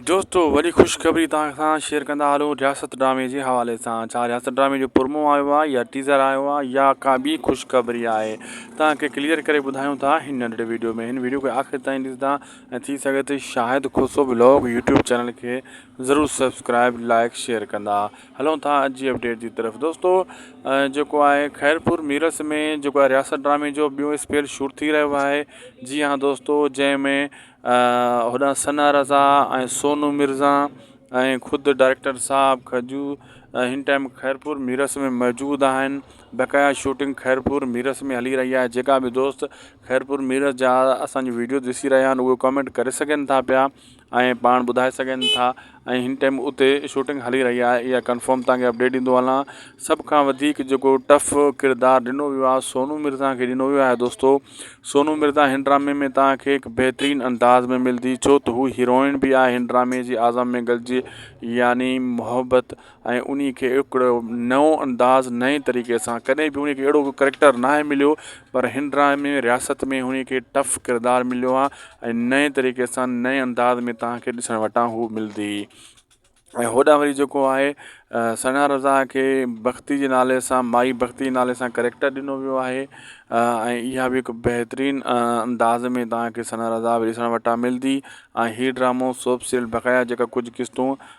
دوستو وڏي خوشخبري توهان سان شيئر ڪندا هلون رياست ڊرامي جي حوالي سان ڇا رياست ڊرامي جو پرمو آيو آهي يا ٽيزر آيو آهي يا ڪا ٻي خوشخبري آهي توهان کي ڪليئر ڪري ٻڌايون ٿا هن ننڍڙي ويڊيو ۾ هن ويڊيو کي آخر تائين ڏسندا ۽ ٿي سگهي ته Shahid Khoso blog YouTube channel کي ضرور سبسڪرائب لائڪ شيئر ڪندا هلون ٿا اڄ جي اپڊيٽ جي طرف دوستو جيڪو آهي خيرپور ميرس ۾ جيڪو آهي رياست ڊرامي جو ٻيو اسپيل شوٽ ٿي رهيو آهي جي هان دوستو جنهن ۾ هوڏانهن ثنا رضا ۽ سونو مرزا ۽ خود ڊائريڪٽر صاحب کجو هن ٽائيم خيرپور ميرس ۾ موجود آهن بقايا شوٽنگ خيرپور ميرس ۾ هلي رهي آهي جيڪا به دوست خيرپور ميرس جا اسانجو ويڊيو ڏسي رهيا آهن اهي ڪمينٽ ڪري سگهن ٿا پيا ۽ پاڻ ٻڌائي سگهن ٿا ۽ هن ٽائيم اتي شوٽنگ هلي رهي آهي اها ڪنفرم توهان کي اپڊيٽ ڏيندو هلان سڀ کان وڌيڪ جيڪو ٽف ڪردار ڏنو ويو آهي سونو مرزا کي ڏنو ويو آهي دوستو سونو مرزا هن ڊرامي ۾ توهان کي هڪ بهترين انداز ۾ ملندي ڇو ته هو هيروئن بي آهي هن ڊرامي جي اعظم مينگل جي يعني محبت ۽ انهي کي هڪڙو نئون انداز نئين طريقي سان ڪڏهن به انهي کي اهڙو ڪو ڪريڪٽر ناهي مليو پر هن ڊرامي ۾ رياست ۾ انهي کي ٽف ڪردار مليو آ ۽ نئين طريقي سان نئين انداز ۾ توهان کي ڏسڻ وٽان هو ملدي ۽ هوڏانهن وري جيڪو آهي ثنا رضا کي بختي جي نالي سان مائي بختي جي نالي سان ڪريڪٽر ڏنو ويو آهي ۽ اها به هڪ بهترين انداز ۾ توهان کي ثنا رضا به ڏسڻ وٽان ملدي ۽ هي ڊرامو سوپ سيريل بقايا جيڪا ڪجهه قسطون